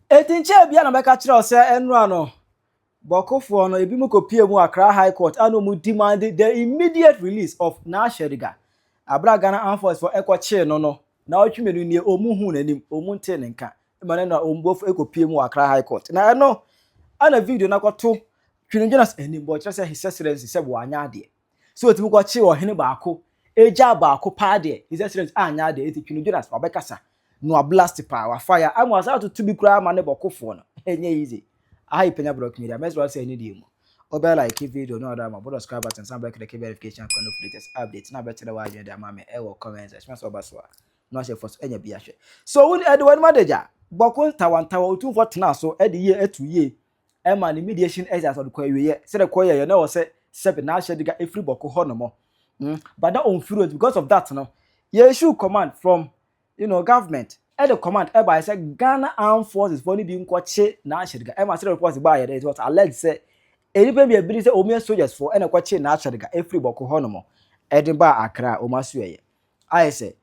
Enti nkyɛ ebia na mɛka kyerɛ wo sɛ ɛnora no, bɔkofoɔ no, ebi mu kɔpie mu Accra High Court a na wɔn demand the immediate release of Naasheriga. Abere a Ghana Armed Forces fɔ ɛkɔkyee no no, na ɔtwe mmienu nie, wɔn huu n'anim, wɔn ntee ne nka. Ɛma no na wɔn bɔfo ɛkɔpie mu Accra High Court. Na ɛno, ɛna video no akɔto Twinigyenas anim, bɔ kyerɛ sɛ his excellency sɛ wɔanyɛ adeɛ. Sɛ otumi kɔkyere ɔhene baako egyaa baako paa deɛ his excellence anyɛ adeɛ eti Twene Jonas wabɛkasa na wablast paa wafa ya ama wasan atoto bi koraa ama ne bɔkofoɔ no ɛnyɛ easy aha yɛ Panya Brɔk Media mɛsrɛ sɛ ɛne deɛ mu wobɛ like video no ɔdɔ ama bɔ subscribe button san bɛkɛdɛkɛ verification kɔ no for latest update na bɛkyerɛ w'adwene de ama me ɛwɔ comment section sɛ ɔba so a na wahyɛ fɔ so ɛnyɛ bi ahwɛ so wo ɛde w'anim adagya bɔko ntawantawa otumfoɔ tena so ɛde yie ɛtu yie ɛma ne mediation ɛyɛ asɛ ɔde kɔ awieɛ sɛ de kɔ yɛyɛ na ɔsɛ sɛbe n'ahyɛ de ga efiri bɔko hɔ nom mm but na ɔmfiri ɔdi because of that no yɛ issue command from you know government ɛde command ɛbaeɛ sɛ Ghana armed forces foɔ no bi nkɔkye n'ahyɛ de ga ɛma sɛ reports baeɛ no it was alleged sɛ nnipa bi a ebi sɛ wɔn yɛ soldiers foɔ ɛna ɛkɔkye n'ahyɛ de ga efiri bɔko hɔ nom ɛde baa Accra a wɔn aso ɛyɛ ayɛ sɛ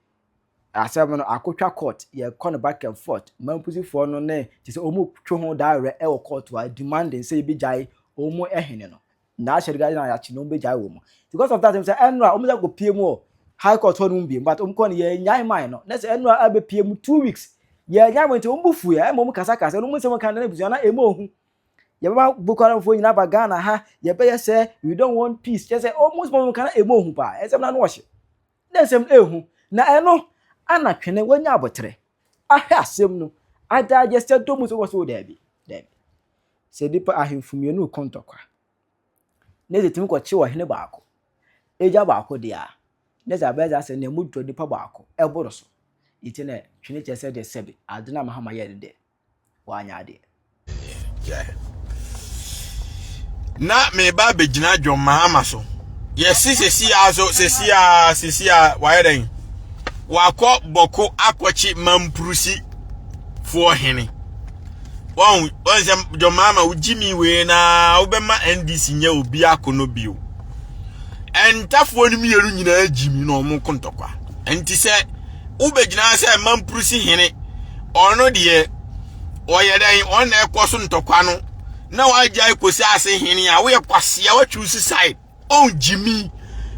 Asɛm no akotwa court yɛkɔ no back and forth mampusifoɔ no ne te sɛ ɔmu twe ho daa werɛ ɛwɔ court hɔ a demanding sɛ yɛbɛgyae ɔmu ɛhene no na ahyɛ regarding a yɛakye no ɔmu bɛgyae wɔ mu nti because of that ɛmu sɛ ɛnora ɔmu sɛ kɔ pie mu wɔ high court hɔ nom biem but ɔmu kɔ no yɛnyae mae no na sɛ ɛnora ɛbɛ pie mu two weeks yɛnyae mo nti ɔmu bu fuiɛ ɛma ɔmu kasa kasa ɔmu nsɛm kan na ebusua na ɛmu ɔhu yɛbɛma Boko Haram foɔ nyinaa ba Ghana ha yɛbɛyɛ sɛ we don't want peace kyɛ sɛ ɔmu nsɛm ɔmu kan na ɛmu ɔhu paa ɛnsɛm na ano ɔhye Dɛ nsɛm no ehu, na eno ana twene wanya abotere ahwɛ asem no adaa gyesɛ dɔ mu sowɔsow daabi, daabi. Sɛ nipa ahemfo mmienu reko ntɔkwa, na edze tumi kɔkye ɔhene baako egya baako dea, na edze abɛyɛ dza asɛ na emu dɔ nipa baako boro so, ntsi na twene kyerɛ sɛ dɛ sɛbe adze no a Mahama yɛe no dɛ w'anya adeɛ. na meba abɛgyina John Mahama so yɛsi sisi a so sisi a sisi a wayɛ dɛn wakɔ bɔko akɔkye mampurusi foɔ hene wɔn wɔn sɛ John Mahama wogye mi wei na wobɛma NDC nyɛ obi ako no bio ɛntafoɔ no mmienu nyinaa gyi mi na wɔn ko ntɔkwa. nti sɛ wobɛgyina sɛ mampurusi hene ɔno deɛ ɔyɛ dɛn ɔno na ɛkɔ so ntɔkwa no na wagyae kɔsi ase hene a woyɛ kwasea watwiw si side ɔngyimi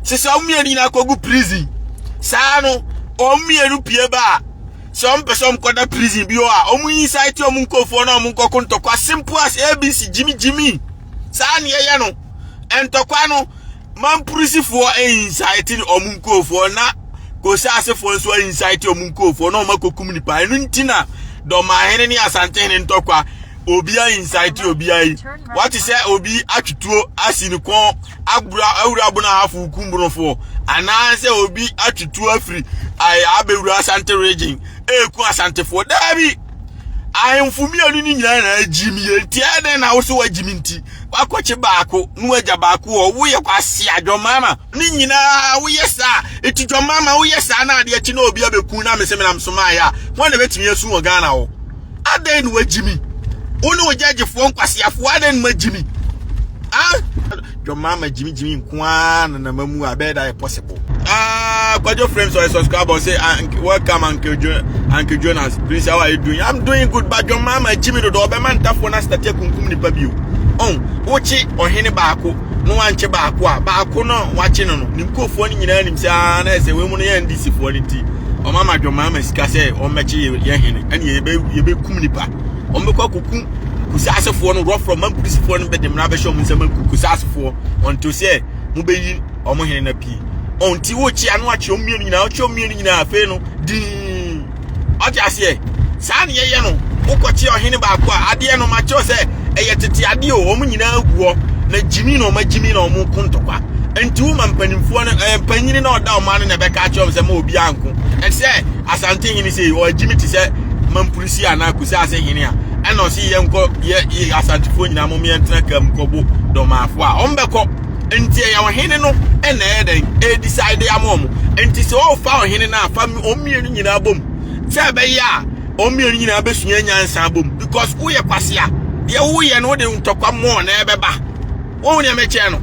sɛ sɛ wɔn mmienu nyinaa kɔgu prison saa no wɔn mmienu pie ba a sɛ wɔn pɛ sɛ wɔn kɔda prison bi hɔ a wɔn yi saa ti wɔn nkurɔfoɔ na wɔn nkɔko ntɔkwa simple as abc gyimi gyimi saa ne yɛyɛ no ntɔkwa no Mampurisifoɔ insaetene wɔn nkurofoɔ na Kosa asefoɔ nso ainsaete wɔn nkurofoɔ na wɔn akɔkum nipa ɛno nti na dɔmahene ne asantehene ntɔkwa obiara insaete obiara yi wate sɛ obi atwetuo asi ne kɔn abura awura bono ahafo kum bonofoɔ anaasɛ obi atwetuo afiri abɛwura asante region ɛku asantefoɔ daabi ahemfo mmienu no nyinaa na agyimi yɛ nti ɛdɛn na wo so wagyimi nti Wakɔkye baako na wagya baako wɔ hɔ. Woyɛ kwasea, dwɔmmaama. Ne nyinaa woyɛ saa. Eti dwɔmmaama woyɛ saa na adeɛ kye na obi abɛku na mese menam so maayɛ a, wɔn na bɛtumi asu wɔ Ghana hɔ. Adɛn na wagyi mi? Wo ne wo gyɛgyefoɔ nkwaseafoɔ adɛn na moagyi mi? Ah? Dwɔmmaama gyimigyimi nko ara na na mamu a, ɛbɛyɛ da yɛ possible. Ampofo. Ah, Kwajo Frames or a subscriber say, ah, welcome Uncle, jo Uncle Jonas. Prince, how are you doing? I'm doing good, but your mama, Jimmy, the Dobe Mantafo, and I started Kunkum Nipabio. Oh, Ochi, or Henny Bako, no one che Bakwa, Bako, no, watching on Nimko for any in him, say, ah, I say, we want to end this for any tea. Or Mama, your mama, Scase, or Mechi, your Henny, and ye be Kumnipa. Or Meko Kukum, Kusasafoɔ no rɔfrɔ ma mpolisifoɔ no bɛde mmara bɛhyɛ ɔmo nsɛm akuku sasafoɔ ɔnto sɛ mobɛyi ɔmo hene na pie ɔnti wokye ano akye ɔmo mmienu nyinaa ɔkye ɔmo mmienu nyinaa afei no dii ɔte aseɛ saa ne yɛyɛ no wokɔkye ɔhene baako a adeɛ no makyerɛ sɛ ɛyɛ tete adeɛ o ɔmo nyinaa gu hɔ na gyimi na ɔmo agyimi na ɔmo ko ntɔkwa nti wo ma mpanimfoɔ no ɛɛ mpanyini na ɔda ɔmo ano na ɛbɛka akyerɛ ɔmo sɛ ma obi anko ɛte sɛ asante hene sɛ ɔagyimi te sɛ mampulusi anaa kusa ase hene a ɛna ɔsi yɛnkɔ yɛ yɛ asantefoɔ nyinaa mo mmeɛntena kam kɔbo dɔmaafo a ɔmo bɛkɔ Nti ɛyɛ ɔhene no na ɛyɛ dɛn ɛdecide ama wɔn nti sɛ ɔfa ɔhene no a fa wɔn mmienu nyinaa bom sɛ ɛbɛyɛ a wɔn mmienu nyinaa bɛsua nyansa bom because woyɛ kwasea deɛ woyɛ no wode ntɔkwa mmɔɔ na ɛbɛba wɔn nea mɛkyɛn no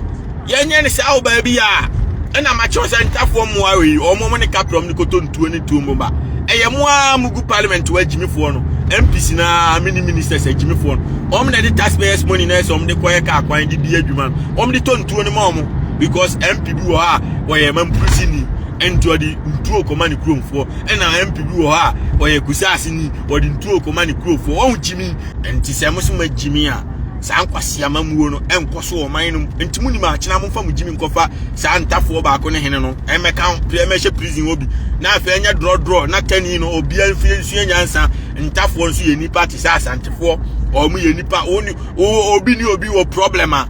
yɛnyɛ no saa ɔbaa bi a ɛna makyerɛ sɛ ntafoɔ mmoa wei wɔn ne kaprɔm ne kotonto tuo ne tuo mu ba ɛyɛ mo ara mo gu parliament wɔ agyimifoɔ no mpc na mini ministers agyimifoɔ no wɔn na ɛde taxpayers money na ɛsɛ wɔn de kɔyɛ kaa kwan de di adwuma no wɔn de tɔ ntuo no ma wɔn because mp bi wɔ hɔ a wɔyɛ mampurusi ni nti ɔde ntuo kɔma ne kuromfoɔ ɛna mp bi wɔ hɔ a wɔyɛ kusaase ni wɔde ntuo kɔma ne kuromfoɔ wɔn gyimi nti sɛ mo so ma gyimi a saa nkwasi amamuo no ɛnkɔ so wɔ ɔman no mu nti mo nim akyena mo nfa mo gyimi nkɔfa saa ntafoɔ baako ne hene no ɛmɛ kan pia ɛmɛ hyɛ prison wɔ bi na afei ɛnyɛ drɔdrɔ na kani no obia nfie nsua nyansa ntafoɔ nso yɛ nipa te sɛ asantefoɔ wɔn yɛ nipa wɔn wɔ obi ni obi wɔ problem a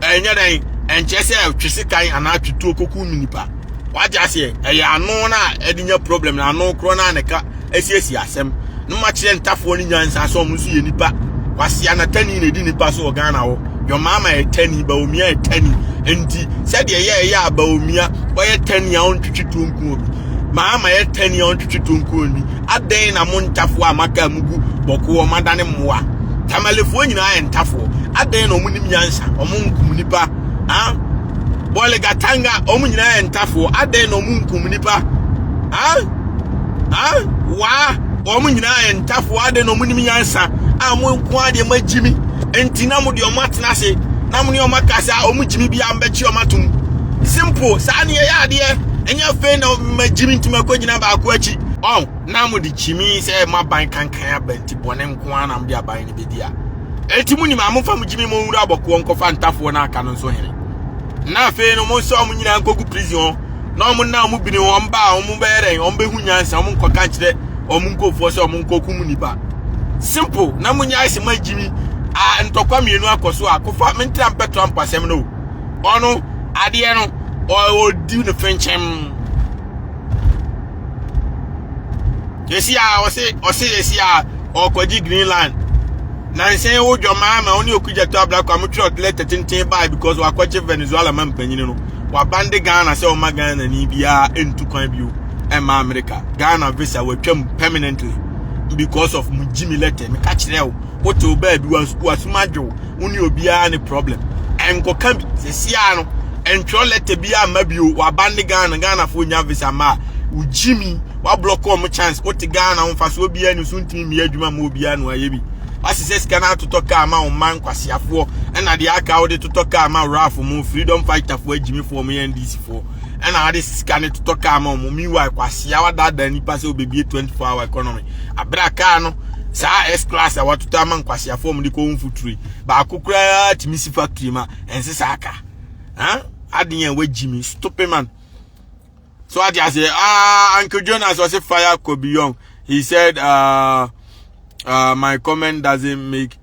ɛnyɛ dɛn ɛnkyɛ sɛ twe se kan anaa twetuo koko mu nipa wagye aseɛ ɛyɛ ano na ɛde nya problem na ano korɔ na ne ka asiesie asɛm na ɔma kyerɛ ntafoɔ ne nyansa sɛ ɔmo nso yɛ nipa kwasea na tani na ɛdi nipa so wɔ ghana hɔ yɔmaama yɛ tani baomia yɛ tani nti sɛdeɛ ɛyɛ ɛyɛ a baomia ɔyɛ tani a ɔntwetwe tuo nku obi maama yɛ tani a ɔntwetwe tuo nku obi adɛn na mo ntafoɔ a maka mu gu bɔko ɔmo adane mmoa tamalefoɔ nyinaa yɛ ntafoɔ adɛn na ɔmo nim nyansa ɔmo nkum nipa ah bɔle gatanga wɔn nyinaa yɛ ntafoɔ adɛn na wɔn nkum nipa ha ha waa wɔn nyinaa yɛ ntafoɔ adɛn na wɔn nim nyansa a wɔn nko adeɛ wɔn agyimi nti na wɔn deɛ wɔn atena ase na wɔn ne wɔn aka sɛ wɔn gyimi bi a wɔn bɛkye wɔn atom simple saa ne yɛyɛ adeɛ ɛnyɛ afei na wɔn agyimi nti wɔn akɔ gyina baako akyi ɔn na wɔn de gyimi sɛ wɔn aban kankan aban ti bɔne nko ara na wɔn de aban no bɛdi a. Enti mo nim a momfa mo gyimi mo nwura abɔkoɔ nkɔfa ntafoɔ no aka no nso hene na afei no mo nsa wɔn nyinaa nkɔgu prison hɔ na wɔn nna wɔn bini wɔn ba a wɔn bɛyɛ dɛn wɔn bɛhu nyansa wɔn nkɔka nkyerɛ wɔn nkurɔfoɔ sɛ wɔn nkɔkum nipa simple na mo nyae se ma gyimi a ntɔkwa mmienu akɔ so a kofa mentra mpɛ trump asɛm no ɔno adeɛ no ɔdi ne fenkyɛm Esi a ɔse ɔse esi a ɔkɔgye Greenland. Nansa yi wo dwamaa ma ɔne Okudzeto Ablakwa a motwerɛ lɛtɛ tenten baa because wakɔgye Venezuela ma mpanyin no. Wabande Ghana sɛ ɔma Ghana ni biara ntu kwan bio ɛma America. Ghana visa watwam permanently because of mo Jimmy lɛtɛ. Meka kyerɛ wo. wotew baabi wasum adwo wo ne obiara ne problem ɛnkɔka bi sɛsia no ɛntwerɛ lɛtɛ bi ama bio waba ne ghana ghanafoɔ nya visa ma a wogyi mi wablɔkɔ ɔmo chance wote ghana ho fa so obiara ni so ntumi mmea adwuma ma obiara no ayɛ bi wasesɛ sika no atotɔ kaa ma wo mma nkwaseafoɔ ɛna deɛ aka wode totɔ kaa ma wrafoɔ mu freedom fighterfoɔ agyimifoɔ mo yɛ ndcfoɔ ɛna ade sika no totɔ kaa ma wɔn meanwhile kwasea wadaadaa nipa sɛ obebie 24 hour economy abira kaa no saa s class a watotɔ ama nkwasea fɔm de kɔ wɔn futuri baako koraa tumi si factory ma ɛnse saa ka ɛn adeɛ yɛn wagyi mi stupid man so ade ase ah uncle jonas ɔsi fire kɔ beyond he said uh, uh, my comment doesn't make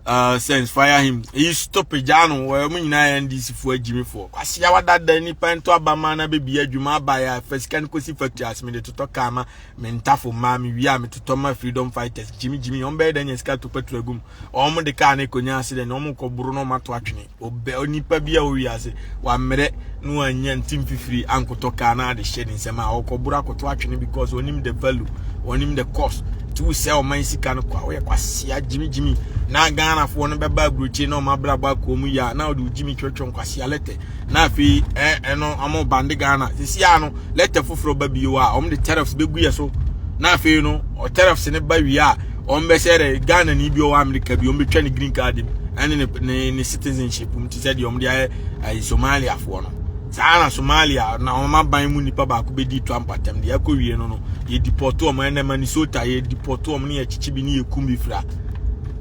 uh, sense fire him eyi stop gyaa no wɔn eh, nyinaa yɛ ndc foɔ agyimifoɔ kwasi awa dada nipa nto abama na bebi adwuma aba ya fɛ sika no kɔsi factory ase mede totɔ kaa ma me ntafo mmaa me wia me totɔ ma freedom fighters gyimi gyimi wɔn bɛyɛ dɛ nya sika to pɛtro agum wɔn de kaa ne konya ase dɛ na wɔn kɔ boro na wɔn ato atwene Ɔbɛ onipa bi a ɔwɔ wiase wammrɛ na wanya nti mfifiri ankɔtɔ kaa na ade hyɛ ne nsɛm a ɔkɔboro akɔto atwene because ɔnim the value ɔnim the cost nti wosɛ ɔman sika no kɔ a woyɛ kwasea gyimigyimi na ghanafoɔ no bɛba aburokyire na ɔma abrabɔ akɔɔ mu yɛ a na ɔde wogyimi twɛtwɛ nkwasea lɛtɛ na afei ɛno ɔmo bande ghana sisi a no lɛtɛ foforɔ ba bio a ɔmo de tariffs bɛgu yɛ so na afei no tariffs no ba wie a wɔn bɛhyɛ dɛ ghana ni bi ɔwɔ america bi wɔn bɛtwa ne green card mu ɛne ne ne ne citizenship mu ti sɛ deɛ wɔn de ayɛ ɛyɛ somaliafoɔ no saa na somalia na wɔn aban mu nipa baako bɛdi to ampatam deɛ ɛkɔ wie no no yɛ deport wɔn ɛnɛ manisota yɛ deport wɔn ne yɛ kyikyi bi ne yɛ kum bi fira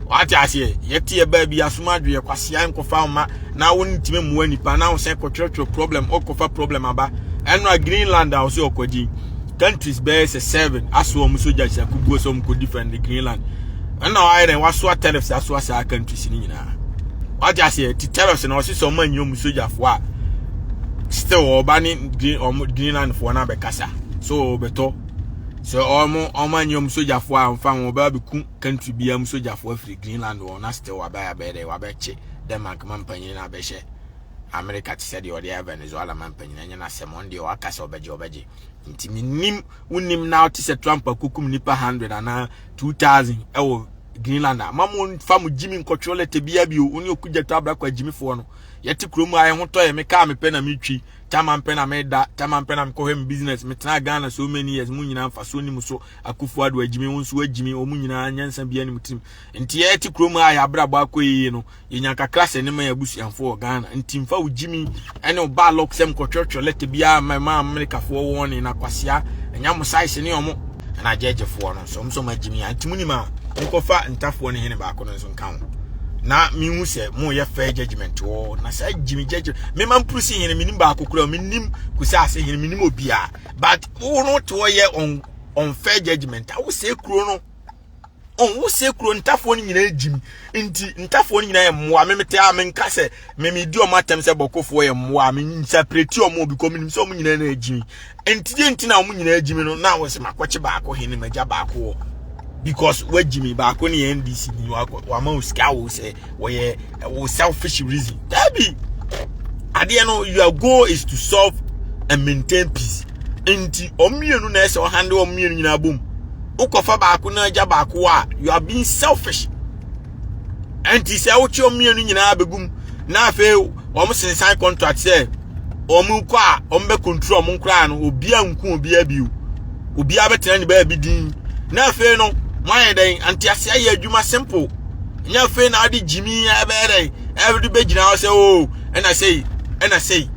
wate aseɛ yɛte yɛ baa bi asoma adweɛ kwasea nkɔfa wo ma na wo ntumi mmoa nipa na wo sɛ kɔtwerɛtwerɛ problem ɔkɔfa problem aba ɛno a greenland a wo sɛ ɔkɔgye countries bɛyɛ sɛ seven asoa wɔn sogya nsakubuo sɛ wɔn kɔ defend greenland ɛna wayɛ dɛ wasoa tariffs asoa saa countries no nyinaa wagye aseɛ ti tariffs na ɔsesa wɔn anyi wɔn sogyafoɔ a still ɔba ne green wɔn greenland foɔ no abɛkasa so ɔbɛtɔ sɛ wɔn wɔn anyi wɔn sogyafoɔ a wɔfa wɔn ɔbɛ abɛku country biara mu sogyafoɔ afiri greenland wɔn na still wabɛ abɛyɛ dɛ wabɛkye denmark ma mpanyin na abɛhyɛ America te sɛ deɛ ɔde ayɛ Venezuela ma mpanyin ɛnyɛ n'asɛm ɔn deɛ ɔaka sɛ ɔbɛgye ɔbɛgye nti menim wonim na ɔte sɛ Trump akokum nipa 100 anaa 2000 ɛwɔ Greenland a ma mo nfa mo gyimi nkɔtwerɛ lɛtɛ bia bio wo ne ɔkugya to abrakɔ agyimifoɔ no yɛte kurom a ɛho tɔ yɛ me kaa mepɛ na metwi tama mpɛ na meda tama mpɛ na mekɔhwɛ me business metena Ghana so many years mo nyinaa mfasoɔ ni mu so akufo ado agyimi wo nso agyimi ɔmo nyinaa nyansa bia ne mu tirim nti yɛte kurom a yɛabrabɔ akɔ yie no yɛnya kakra sɛ ne ma yɛ abusuafoɔ wɔ ghana nti mfa wo gyimi ne wo baa lɔk sɛm kɔtwerɛtwerɛ lɛta biara ma ma amerikafoɔ wɔn ne nakwasea ɛnya mo saese ne ɔmo ɛna agyɛgyefoɔ no nso ɔmo sɛ ɔmo agyimi a nti mo nim a nkɔfa ntafoɔ ne hene baako no nso nka ho na mehu sɛ moyɛ fair judgment wɔ na saa gyimi gyagye mema mpuru si hene menim baako kora menim kusi ase hene menim obiara but wo no te hɔ yɛ on on fair judgment a wosɛ kuro no ɔwo sɛ kuro ntafoɔ no nyinaa gyimi nti ntafoɔ no nyinaa yɛ mmoa me mete a menka sɛ me medi ɔmo atɛm sɛ bɔkofoɔ yɛ mmoa me nsapireti ɔmo bi kɔ menim sɛ ɔmo nyinaa na agyimi nti deɛ nti na ɔmo nyinaa agyimi no na wɔ sɛ makɔkye baako hene magya baako wɔ because wagyimi baako ne yɛ ndc ni wakɔ wama osika wo sɛ wɔyɛ ɛwɔ selfish reason dabi adeɛ no your goal is to solve and maintain peace nti wɔn mmienu na ɛsɛ ɔhande wɔn mmienu nyinaa bom wokɔfa baako na agya baako a you are being selfish nti sɛ wokye wɔn mmienu nyinaa bɛgum na afei wɔn sensan contract sɛ wɔn kɔ a wɔn bɛ control wɔn koraa no obiara nku obiara bio obiara bɛtena ne baabi din na afei no mo ayɛ dɛn anteaseɛ yɛ adwuma simple. ɛnyɛ afei na ade gyimi a ɛbɛyɛ dɛ ɛde bɛgyina hɔ sɛ o oh, ɛna sei ɛna sei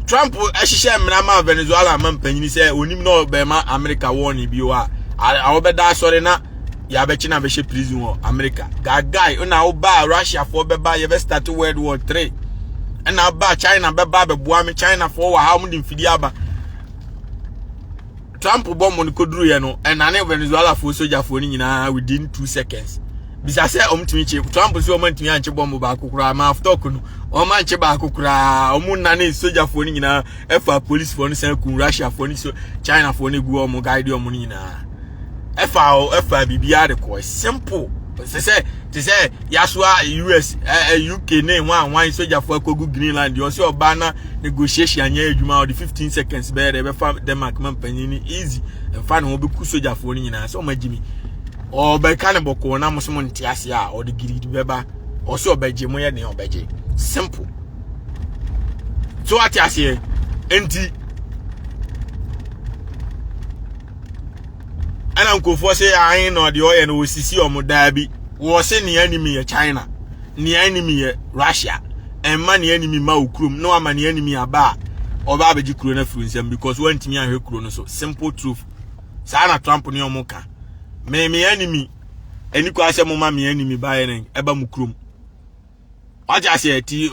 trump hyehyɛ mmara ma venezuela ma mpanyini sɛ onim na ɔbɛma amerika wɔne bio a a wɔbɛda asɔre na yɛabɛkye na bɛhyɛ prison wɔ amerika gagae na wobaa russiafoɔ bɛba yɛbɛstate world war 3 ɛna ba china bɛba bɛboa me chinafoɔ wɔ ha wɔde mfidie aba Trump bɔ mo no koduruiɛ no ɛnane Venezuelafoɔ sogyafoɔ no nyinaa within two seconds bisa sɛ ɔmtumi kye Trump sɛ ɔmantumi ankye bɔmbo baako koraa ma aftok no ɔmankye baako koraa ɔmo nane sogyafoɔ no nyinaa ɛfa policefoɔ no san kun Russiafoɔ no so Chinafoɔ no gu ɔmo guide ɔmo no nyinaa ɛfa ɛfa biribiara de kɔɔ simple te sɛ te sɛ yasoa US eh, eh, UK ne ho anwan sogyafoɔ akɔgu Greenland ɔsɛ ɔbaa na negotiation anyɛ adwuma ɔde 15 seconds bɛyɛ dɛ ɛbɛfa denmark ma mpanyin no easy ɛmfa ne ho bɛku sogyafoɔ no nyinaa sɛ ɔma gyimi ɔbɛka ne bɔkɔɔ na mosom nte ase a ɔde giridi bɛba ɔsɛ ɔbɛgye moyɛ nea ɔbɛgye simple so ate aseɛ nti ɛna nkurɔfoɔ sɛ ahe na ɔde ɔyɛ no wɔsisi ɔmo daa bi wɔ se nea anim yɛ china nea anim yɛ russia ɛmma nea anim ma wo kurom na wama nea anim aba a ɔba abɛgye kuro no afiri nsɛm because wantumi ahwɛ kuro no so simple truth saa na trump ne ɔmo ka me me anim ɛni kɔ asɛ mo ma me anim baeɛ ne ɛba mo kurom wate aseɛ ti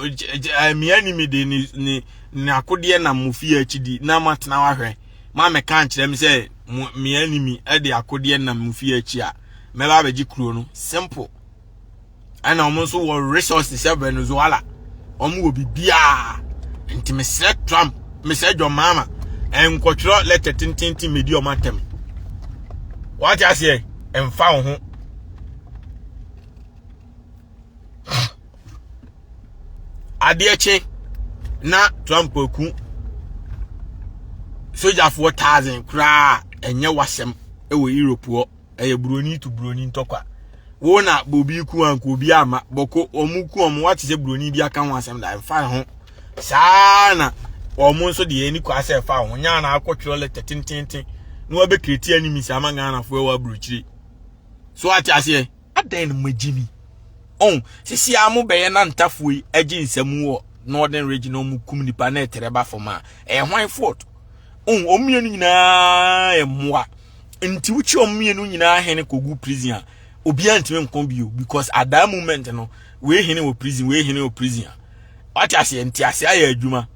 mmea ni mi de ne ne ne akodeɛ nam mo fie akyi di na mo atena wahwɛ ma mɛka nkyerɛ mi sɛ mo mmea ni mi de akodeɛ nam mo fie akyi a mɛba abɛgye kuro no simple ɛna wɔn nso wɔ resources sɛ venezuela wɔn wɔ biribiara nti mesrɛ trump mesrɛ john mahama nkɔtwerɛ lɛtɛ tententen medi wɔn atɛm wate aseɛ mfa wo ho adeɛ kye na trump aku sogyafoɔ thousand koraa ɛnyɛ wasɛm ɛwɔ europe hɔ ɛyɛ buroni to buroni ntɔkwa wo na bobi ku anko obi ama bɔko wɔn ku wɔn wate sɛ buroni bi aka ho asɛm da ɛmfa ho saa na wɔn nso deɛ ani kɔ asɛ ɛfa ho nyaa na akɔtwerɛ lɛtɛ tententen na wɔbɛkreti animisa ama ghanafoɔ ɛwɔ aburokyire so ate aseɛ adɛn no magye ni ɔn sisi a mo bɛyɛ na ntafoɔ yi agye nsɛm wɔ northern region ɔmo kum nipa na ɛtɛrɛ ba fam a ɛyɛ hwan fort ɔn ɔmo mmienu nyinaa yɛ mmoa nti wokyi ɔmo mmienu nyinaa hene kogu prison a obiara ntumi nko bio because at that moment no wei hene wɔ prison wei hene wɔ prison a wate aseɛ nti ase ayɛ adwuma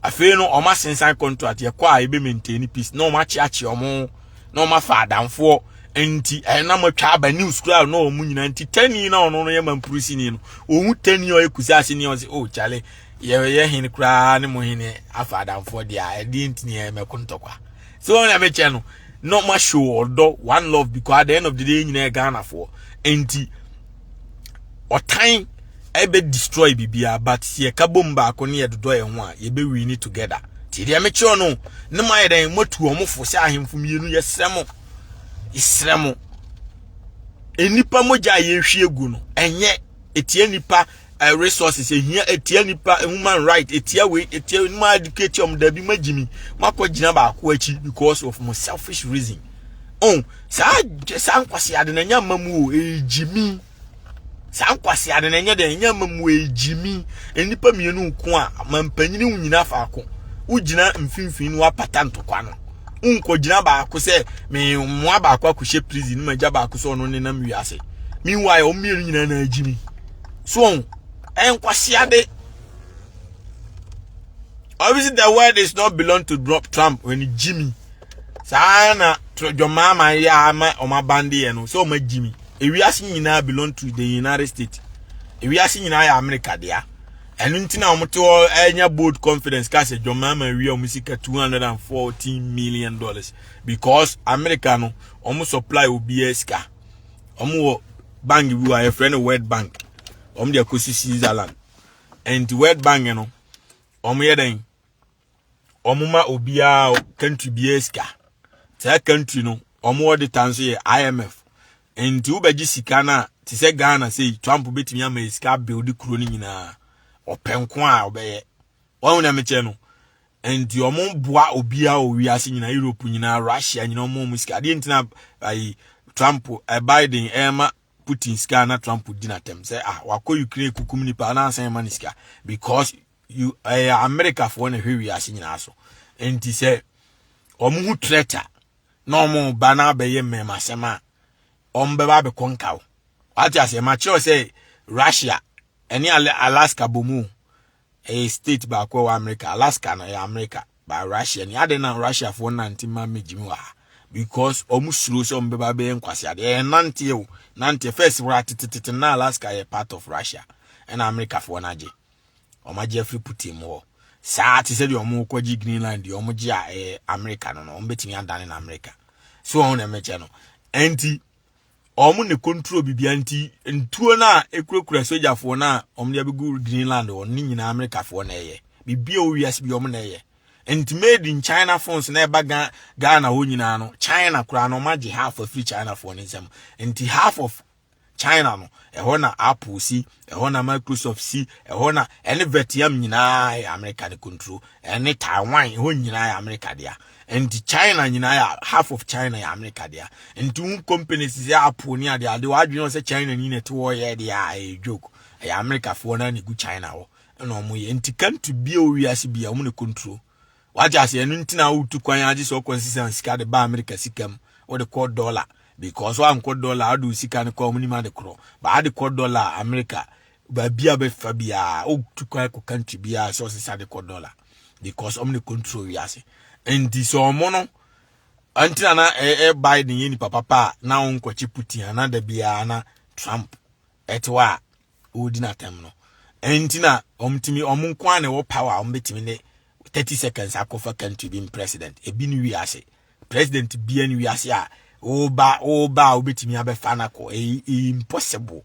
afei no ɔma sensan contract yɛkɔ a ebe maintain peace na ɔma akyeakye ɔmo na wɔn afa adamfoɔ nti ɛyɛ na matwa aba news kura na wɔn nyinaa nti tani na ɔno no yɛ mampurusini no ohun tani a ɔyɛ kusi ase ni ɔsi o oh, kyale yɛyɛ hen koraa ne mo hen afa adamfoɔ deɛ a ɛdeɛ ntini yɛ mɛko ntɔkwa sɛ wɔn nyame kyɛ no na wɔn ahyɛ ɔdɔ one love because at the end of the day nyinaa yɛ ghanafoɔ nti ɔtan. ɛbɛ destroy bibia but sɛ yɛka bom baako ne yɛdodɔ yɛn ho a yɛbɛ win together ti deɛ mekyerɛ no ne mo ayɛ dɛn moatu wɔn fo sɛ ahemfo mmienu yɛsrɛ mo yɛsrɛ mo nnipa mogya a yɛhwie gu no ɛnyɛ ɛtia nipa eh, resources ɛhia ɛtia nipa eh, human right ɛtia wei ɛtia no ma educate ɔm dabi ma gyimi makɔ gyina baako akyi because of mo selfish reason oh saa saa nkwasi ade na nya ma mu o ɛgyimi eh, saa nkwasea no na ɛnyɛ dɛn ɛnyɛ amammuo egyimi nnipa mmienu nko a mampanyini wo nyina faako wogyina mfimfini no apata ntokwa no wonkɔgyina baako sɛ mmoa baako akɔhyɛ prison no magya baako sɛ ɔno nenam wiase meanwhile wɔn mmienu nyinaa na agyimi so wɔn ɛnkwasea de obviously the word is not belong to Trump when Jimmy saa na dwɔmaama yɛ ama wɔn abandeɛ no sɛ wɔn agyimi ewiase nyinaa belong to the united states ewiase nyinaa yɛ america dea ɛno nti na wɔn te hɔ ɛnya bold confidence ka sɛ john mahama awia wɔn sika two hundred and fourteen million dollars because america no wɔn supply obiara sika wɔn wɔ bank bi wɔ a yɛfrɛ no world bank wɔn de akɔsi switzerland ɛnti world bank no wɔn yɛ dɛn. wɔn ma obiara country biara sika saa country no wɔn wɔde tan nso yɛ imf nti wobɛgye sika no a te sɛ ghana sei trump bɛtumi ama yɛ sika build kuro no nyinaa ɔpɛ nko a ɔbɛyɛ wɔn na mekyɛ no nti wɔn boa obiara wɔ wiase nyinaa europe nyinaa russia nyinaa wɔn mu sika adeɛ ntina ayi trump eh, biden ɛma eh, putin sika na trump di n'atɛm sɛ ah wakɔ ukraine kukum nipa anaasɛn ma ne sika because ɛyɛ amerikafoɔ na ɛhwɛ wiase nyinaa so nti sɛ wɔn ho trɛta na wɔn ba na abɛyɛ mmɛmasɛm a wɔn bɛba abɛkɔ nka wo wate aseɛ ma kyerɛw sɛ russia ɛne alaska bomu ɛyɛ state baako wɔ amerika alaska no ɛyɛ amerika ba russia ni ade na russiafoɔ nante ma megyimi wɔ ha because wɔn suro sɛ wɔn bɛba bɛyɛ nkwasi adeɛ ɛyɛ nanteɛ o nanteɛ first wɔ atetetete na alaska yɛ part of russia ɛna amerikafoɔ no agye wɔn agye afiri putin mu hɔ saa te sɛ deɛ wɔn rekɔgye greenland deɛ wɔn gye a ɛyɛ eh, america no no wɔn bɛtumi adane na america so wɔn na ɛmɛkyɛ no ɛnti wɔn ne control bibia nti ntuo no a ekurakura sogyafoɔ no a wɔn de abɛgu greenland wɔn ne nyinaa americafoɔ na ɛyɛ bibia wɔ wiase bi wɔn na ɛyɛ nti made in china phones na ɛba ghana hɔ nyinaa no china koraa no wɔn agye half afiri chinafoɔ no nsam nti half of China no, ɛhɔ na Apple si, ɛhɔ na Microsoft si, ɛhɔ na ɛne Vietnam nyinaa yɛ America ne control, ɛne Taiwan ɛhɔ nyinaa yɛ America dea. Nti China nyinaa yɛ half of China yɛ America dea. Nti wo companies sɛ Apple ne ade ade wadwene sɛ China ni na ɛte wɔ yɛ de a ɛyɛ joke. Ɛyɛ America foɔ na ne gu China hɔ. Ɛna wɔn yɛ. Nti can't be o wiase bia wɔn ne control. wate ase ɛno nti na wotu kwan agye sɛ ɔkɔ nsesa sika de ba amerika sika mu wode kɔ dɔla because wankɔ dɔla wode wo sika no kɔ ɔmonim ade korɔ baa de kɔ dɔla amerika baabi a bɛfa biaa wotu kwan kɔ country biaa sɛ ɔsesa de kɔ dɔla because ɔmo ne control wiase nti sɛ ɔmo no ntina na ɛyɛ biden yɛ nipa papa a na wonkɔkye putin ana da biaa na trump ɛte hɔ a wɔredi no atɛm no ɛnti na wɔn tumi wɔn nko ara na ɛwɔ power a wɔbɛtumi ne thirty seconds akɔfa country bi president ebi ne wiase president bia ne wiase a woba woba a wobɛtumi abɛfa no akɔ ɛyɛ e, e, impossible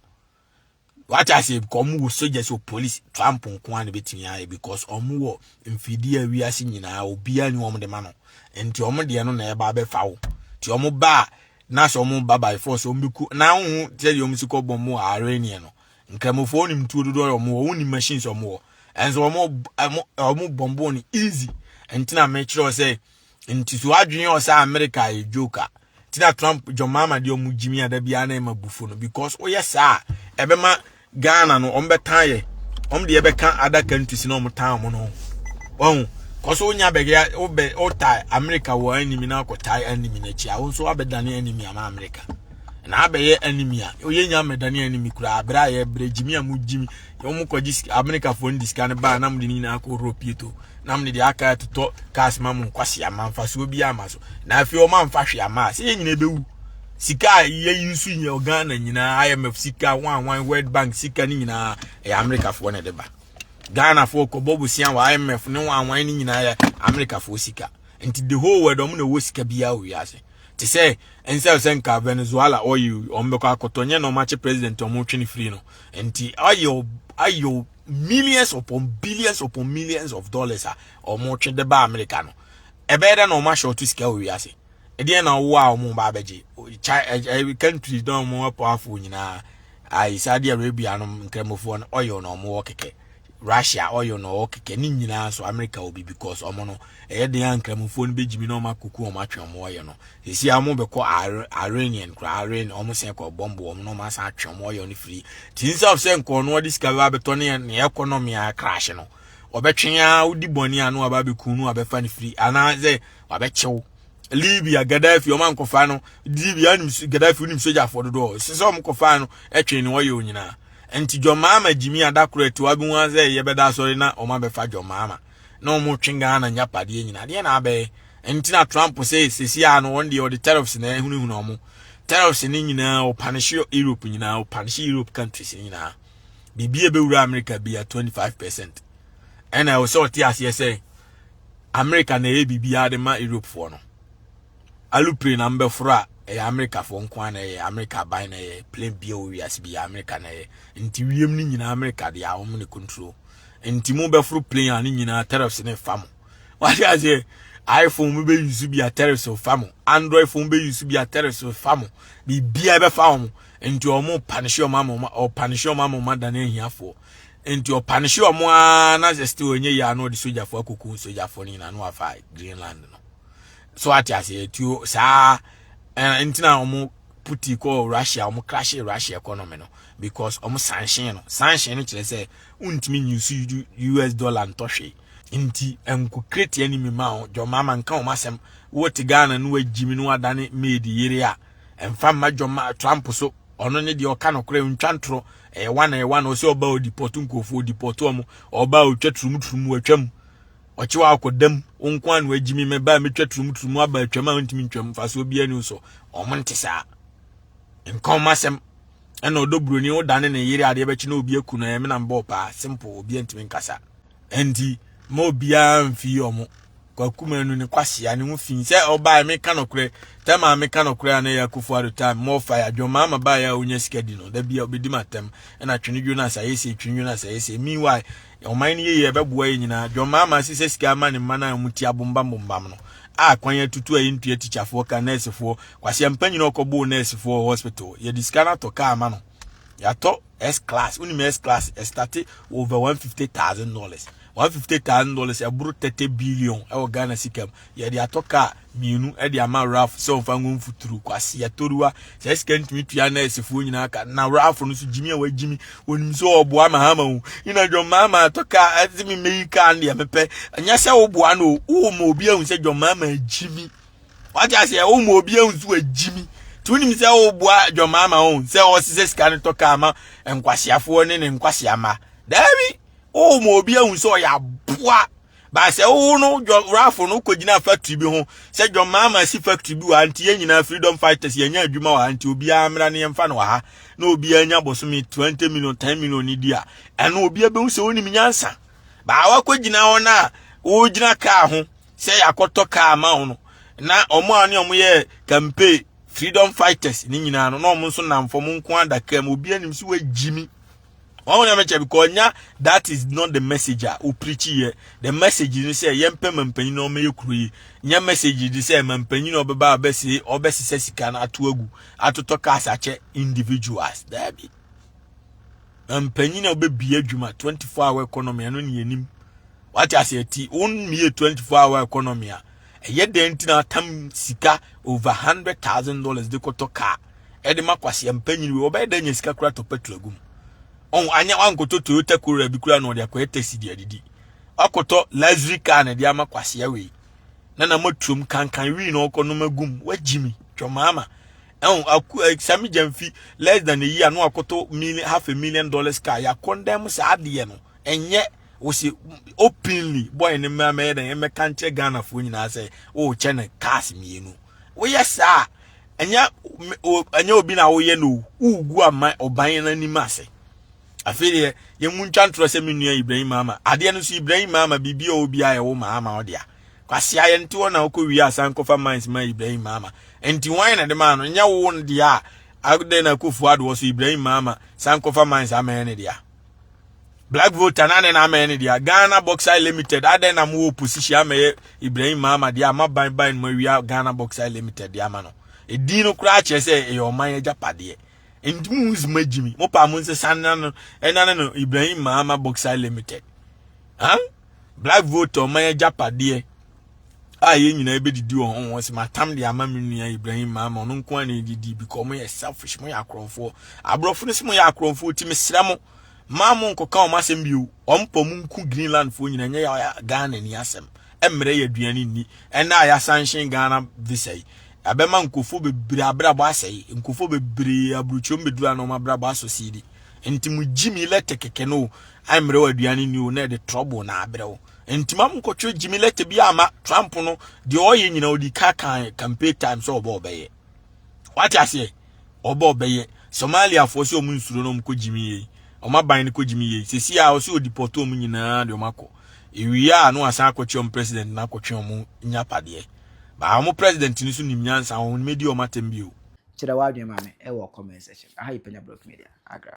wate ase because wɔn wɔ soldiers wɔ police trump nko ara na ɛbɛtumi ayɛ because wɔn wɔ mfidie a wiase nyinaa obiara ne wɔn de ma no nti wɔn deɛ no na ɛba abɛfa wo nti wɔn ba a na sɛ wɔn ba by force wɔn bɛ ku na wɔn ho sɛ deɛ wɔn si kɔ bɔn mu wɔ arɛniɛ no nkramofoɔ wɔn tuo dodoɔ yɛ wɔn wɔ wɔn ni machines wɔn wɔ ɛnso wɔn wɔn wɔn bɔn bɔn no easy ntina mɛ kyerɛ sɛ nti so adwene yɛ ɔsɛ america yɛ joker tina trump jɔn maama deɛ wɔn gyimi ada biara na ɛma bufo no because wɔyɛ saa ɛbɛma Ghana no wɔn bɛtan yɛ wɔn deɛ bɛka adaka ntusi na wɔn tan wɔn no wɔn kɔ so wonya bɛgɛ wobɛ wotae Amerika wɔ animi na akɔtae animi n'akyi a wɔn nso abɛdane animi ama Amerika na abɛyɛ animi a oyɛ nya mɛdane animi kura abere a yɛbrɛ gyimi a mo gyimi wɔn kɔ gye Amerika fo ndi sika no baa nam de ne nyinaa kɔ Europe yi to nam ne de aka atotɔ cars ma mo nkwasi ama nfa so obi ama so na afei wɔn amfa hwe ama a sɛ yɛn nyinaa bɛwu Sika a yɛyi nso nyɛ Ghana nyinaa IMF sika wan wan World Bank sika ne nyinaa ɛyɛ Amerikafoɔ na ɛde ba Ghanafoɔ kɔbɔ bosia wɔ IMF ne wan wan ne nyinaa yɛ Amerikafoɔ sika nti the whole world ɔmo na ɛwɔ sika biara wɔ wiase te sɛ nsɛ sɛ nka Venezuela oil ɔmo bɛkɔ akɔtɔ nyɛ na ɔmo akyɛ president ɔmo twe ne firi no nti oil oil millions upon billions upon millions of dollars a ɔmo twe de ba Amerika no ɛbɛyɛ dɛ na ɔmo ahyɛ ɔto sika wɔ wiase ɛdeɛ na ɔwɔ a wɔn ba abɛgye ɛɛ countries na wɔn wɔ powerful nyinaa ayi saudi arabia no nkramofoɔ no oil na wɔn wɔ kɛkɛ russia oil na ɔwɔ kɛkɛ ne nyinaa so america obi because wɔn no ɛyɛ den a nkramofoɔ no bɛgyimi na wɔn akoko wɔn atwe wɔn oil no sisi a wɔn bɛkɔ iranian koraa iran wɔn sɛn kɔ bɔmbo wɔn na wɔn asan atwe wɔn oil no firi ti nsa of sɛ nkɔɔ no wɔde sika bɛba abɛtɔ ne ne economy a crash no ɔbɛtwe a wodi bɔne a no aba abɛku no abɛfa no firi anaasɛ wabɛkyew libya gaddafi ɔma nkɔfa no libya nim gaddafi nim sogyafoɔ dodoɔ ɛsɛ sɛ ɔm kɔfa no ɛtwe ne wɔyɛ onyinaa nti jɔmaama gyimi adakoro ati wabi ho sɛ yɛbɛda asɔre na ɔma bɛfa jɔmaama na ɔmo twe ghana nyapadeɛ nyinaa deɛ na abɛyɛ nti na trump sɛ sɛsi a no wɔn deɛ ɔde tariffs na ɛhunahuna ɔmo tariffs ne nyinaa ɔpanehye europe nyinaa ɔpanehye europe countries nyinaa biribi a ɛbɛwura america bia 25 percent ɛna ɛwɔ sɛ ɔte aseɛ sɛ America na ɛyɛ biribiara de ma Europefoɔ no alupre na mbɛforo a ɛyɛ Americafoɔ nko ara na ɛyɛ America aban na ɛyɛ plane bia wɔ wiase bi yɛ America na ɛyɛ nti wiem no nyinaa America de a wɔn ne control nti mo bɛforo plane a ne nyinaa tariffs ne fa mo wate aseɛ iPhone mo bɛ use bi a tariffs fa mo Android phone bɛ use bi a tariffs fa mo biribiara bɛfa wɔn nti wɔn panishe wɔn ama wɔn panishe wɔn ama wɔn adane ahiafoɔ nti ɔpanehye ɔmo ara na sɛ still ɔnyɛ yie a na ɔde sogyafo akɔku sogyafo no nyinaa na wafa greenland no so ate ase atuo saa ntina ɔmo puti kɔ russia ɔmo krahye russia economy no because ɔmo sanhyɛn no sanhyɛn no kyerɛ sɛ wontumi nyi so us dollar ntɔ hwee nti ɛnko kreti ani mi ma wo dwɔma ama nka wɔn asɛm wote ghana no wagyi mi no wadane maid yere a ɛmfa mma dwɔma trump so ɔno ne deɛ ɔka nokorɛ ntwa ntorɔ ɛyɛ wana ɛyɛ wana ɔsɛ ɔba ɔdipɔto nkurɔfoɔ ɔdipɔto ɔmo ɔba a ɔtwa turumu turumu atwam ɔkye wɔ akɔdam wo nko ano agyimi mɛba a mɛtwa turumu turumu aba atwam a ntumi ntwam mfasoɔ biara ni so ɔmo nte saa nka ɔmo asɛm ɛna ɔdɔ buroni wodane ne yere adeɛ bɛkye na obi aku no ɛmena mbɔ paa simple obi ntumi nkasa ɛnti ma obiara mfii ɔmo kwakuma anu ne kwahyia ne ho fi sɛ ɔbaa ɛme ka nɔkorɛ tɛm a me ka nɔkorɛ a na ɛyɛ akofo ado time mo ɔfa yɛ adwɔma ama baa yɛ a onya sika di no da bi a obedi ma tɛm ɛna twene dwo na sayɛ sɛ twene dwo na sayɛ sɛ meanwhile ɔman no yɛ yɛ ɛbɛboa yɛ nyinaa adwɔma ama se sɛ sika ama ne mma no a ɔmo ti abombam bombam no a kwan atutu a yɛntua tikyafoɔ ka nɛɛsefoɔ kwahyia mpa nyina ɔkɔboo nɛɛsefoɔ hospital yɛde sika no atɔ kaa ma no yɛatɔ s class wonim s class ɛstate over 150000 dollars 150000 dollars ɛboro 30 billion ɛwɔ ghana sika mu yɛde atɔ kaa mmienu ɛde ama raf sɛ ɔmfa ngo mfuturo kwase yɛtɔruwa sɛ sika ntumi tua nɛɛsefoɔ nyinaa ka na raf no so gyimi a wagyimi wɔnim sɛ ɔboa ma hama ho yina dwɔmaa ma atɔ kaa ɛde me mɛyi kaa no deɛ mepɛ ɛnyɛ sɛ woboa no o wowɔ ma obi ahu sɛ dwɔmaa ma gyimi wagye ase ɛwo mu obi ehu so agyi mi tí o nim sɛ o bua John Mahama o sɛ ɔsisɛ sika no tɔ kaa ma nkwasiafoɔ ne ne nkwasia ma daabi o mu obi ehu sɛ ɔyɛ aboa baasa o no John Ralph no kɔ gyina factory bi ho sɛ John Mahama si factory bi wɔ anti yɛn nyinaa freedom fighters yɛn nya adwuma wɔ anti obiara mmra ne yɛn fa no wɔ ha na obiara nya bɔsɔmi twenty million ten million ne di a ɛno obiara bɛhu sɛ onim nyansa baawa kɔ gyina hɔ na o gyina kaa ho. sɛ yɛakɔtɔ kaa ma wo no na ɔmo a ne ɔmo yɛ campaign freedom fighters ne nyinaa no na ɔmo nso nam fam nko ada kaa mu obi anim si wagyi mi wɔn wɔn ɛmɛkyɛ because nya that is not the message a o preach yɛ the message ni sɛ yɛn pɛ ma mpanyin na ɔmo yɛ kuro yi nya message ni sɛ ma mpanyin na ɔbɛba ɔbɛsi ɔbɛsisɛ sika no ato agu atotɔ cars akyɛ individuals daabi. mpanyin a wobɛbie adwuma 24 hour economy ɛno ne yɛnim wate aseɛ ti wonmie 24 hour economy a ɛyɛ dɛn nti na atam sika over 100000 dollars de kɔtɔ kaa ɛde ma kwaseɛ mpanyin wei wɔbɛyɛ dɛn nya sika kora tɔ petrol agu mu ɔn anya wankɔtɔ toyota corolla bi kora na ɔde akɔyɛ taxi de adidi wakɔtɔ luxury car na ɛde ama kwaseɛ wei na na matuom kankan wii na ɔkɔ nom agum wagyimi twɔmaama ɛho aku eh, sami gyamfi less than a year no akoto million half a million dollars car ya condemn saa adeɛ no ɛnyɛ wɔsi openly boy ne mmaa mɛyɛ dɛ ɛmɛka nkyerɛ ghana foɔ nyinaa sɛ wɔrekyɛ no cars mmienu woyɛ saa ɛnyɛ ɛnyɛ obi na woyɛ no wogu ama ɔban no anim ase afei deɛ yɛmu ntwa ntorɔ sɛ me nua ibrahim maama adeɛ no so ibrahim maama biribi a obi a ɛwo maama ɔde a kwasea yɛ nti hɔ na wokɔ wie asan kɔfa mines ma ibrahim maama nti wɔn na de maa no nyɛ wo no deɛ a adɛn na kofo adoɔ so ibrahim maama san kɔfa mines amɛn ne deɛ black voter na ne na amɛn ne deɛ ghana boxer limited adɛn na mowɔ position amɛyɛ ibrahim maama deɛ ama ban ban no mawia ghana boxer limited deɛ ama no ɛdin no koraa kyerɛ sɛ ɛyɛ ɔman agyapadeɛ nti mu nsi ma gyimi mo paa mo nsɛ sanna no ɛna no ibrahim maama boxer limited huh? black vote ɔma yɛ gyapadeɛ a yɛn nyinaa bɛdidi wɔ ho sɛ matam de ama me nua ibrahim maama ɔno nko a na ɛdidi bikɔ ɔmo yɛ selfish mo yɛ akorɔmfoɔ aborɔfo no sɛ mo yɛ akorɔmfoɔ ti mesrɛ mo maa mo nkɔka ɔmo asɛm bio ɔmo pɔ mo nku greenlandfoɔ nyina nyɛ yɛ ghana ni asɛm ɛmmerɛ yɛ aduane nni ɛnna a yɛasanhyen ghana visa yi abɛma nkofo bebree abrabɔ asɛe nkofo bebree aburukyom bedura na ɔmo abrabɔ asɔ siidi nti mo gyi mi lɛtɛ kɛkɛ no I mmerɛw aduane ni o na ɛde trouble na abrɛ wo nti ma mkɔtwerɛ gyimi lɛtɛ bi ama Trump no deɛ ɔyɛ nyina ɔdi ka kan campaign time sɛ ɔbɔ ɔbɛyɛ wate aseɛ ɔbɔ ɔbɛyɛ Somaliafoɔ sɛ ɔmo nsuro no ɔmkɔ gyimi yei ɔmo aban no kɔ gyimi yei sɛsi a ɔsɛ ɔdipɔto ɔmo nyinaa de ɔmo akɔ ɛwie a no asan akɔkyerɛ ɔmo president na akɔtwe ɔmo nya padeɛ baa ɔmo president no so nim nyansa ɔmo mɛdi ɔmo atɛm bio Kyerɛ w'adwene ma me wɔ comment section. Aha yɛ Panya Blog Media. Agra.